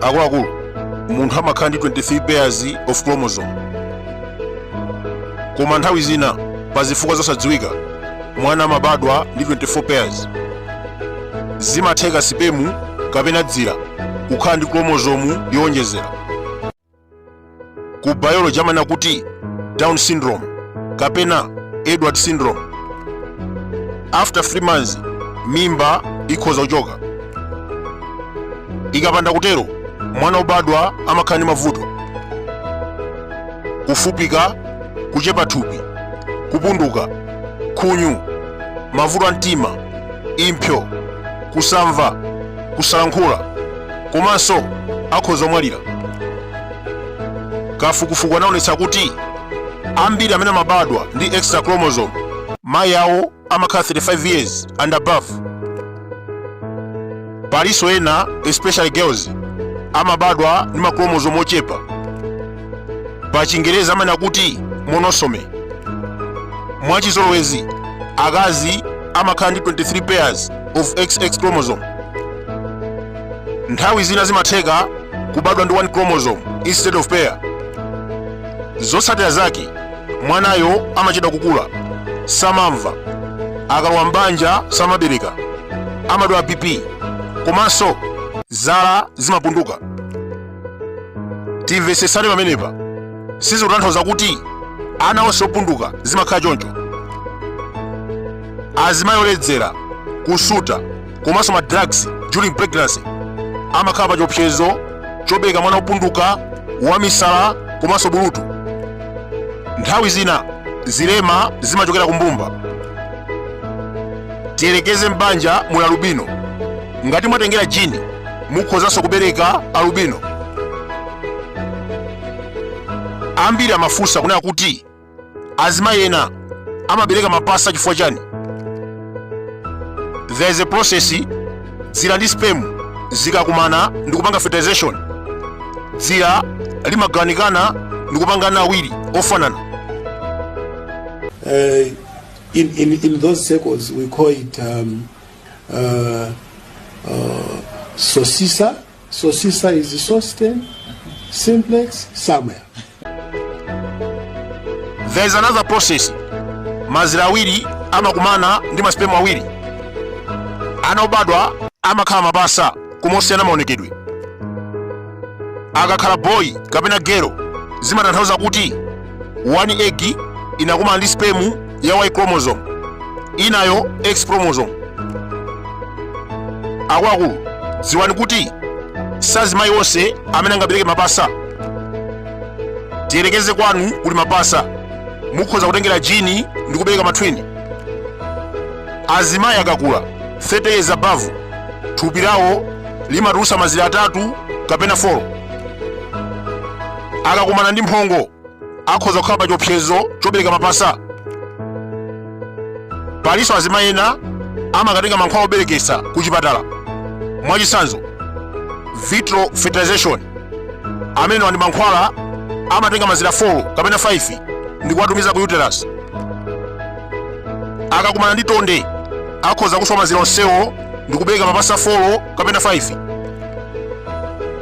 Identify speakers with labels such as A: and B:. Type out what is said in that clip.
A: akuluakulu munthu amakhala ndi 23 pairs of chromosome koma nthawi zina pa zifukwa zosadziwika mwana amabadwa ndi 24 pairs zimatheka sipemu kapena dzira kukhala ndi chromosome yowonjezera ku biology amanena kuti down syndrome kapena edward syndrome after 3 months mimba ikhoza kuchoka ikapanda kutero mwana obadwa amakhala ndi mavuto kufupika kuchepa thupi kupunduka khunyu mavuto a mtima impso kusamva kusalankhula komanso akhoza kumwalira kafukufuku anaonetsa kuti ambiri amene amabadwa ndi extra chromosome mayi awo amakhala 35 years and above palinso ena especially girls amabadwa ndi machromosome ochepa pa chingerezi amanena kuti monosome mwachizolowezi akazi amakhala ndi 23 pairs of xx chromosome nthawi zina zimatheka kubadwa ndi one chromosome instead of pair zotsatira zake mwanayo amachedwa kukula samamva akalowa m'banja samabereka amadwala bp komanso zala zimapunduka timvetsetsane pamenepa sizikutanthauza kuti ana onse opunduka zimakhala choncho azimayi oledzera kusuta komanso ma drugs during pregnancy amakhala pa chiopsezo chobereka mwana wopunduka wamisala komanso bulutu nthawi zina zilema zimachokera kumbumba tiyerekeze m'banja muli alubino ngati mwatengera jini mukhozanso kubereka alubino ambiri amafunsa kunena kuti azimayi ena amabereka mapasa chifukwa chani there is a process dzira ndi sperm zikakumana ndi kupanga fertilization dzira limagawanikana ndi kupanga ana awiri ofanana uh, in, in, in those circles, we call it um, uh, uh, Sosisa Sosisa is Sosten, Simplex, Samuel. There is another process. Mazira awiri amakumana ndi masperm awiri. Ana obadwa amakhala mapasa koma osiyana maonekedwe. Akakhala boy kapena girl zimatanthauza kuti one egg inakumana ndi sperm ya y chromosome inayo ya x chromosome akuluakulu dziwani kuti sazimayi onse amene angabereke mapasa tiyerekeze kwanu kuli mapasa mukhoza kutengera jini ndi kubereka matwini azimayi akakula 30 years above thupi lawo limatulusa mazira atatu kapena 4 akakumana ndi mphongo akhoza kukhala pa chiopsezo chobereka mapasa palinso azimayi ena amakatenga mankhwala obereketsa ku chipatala mwachitsanzo vitro fertilization amenewa ndi mankhwala amatenga mazira 4 kapena 5 ndi kuwatumiza ku uterus akakumana ndi tonde akhoza kuswa mazira onsewo ndi kubereka mapasa 4 kapena 5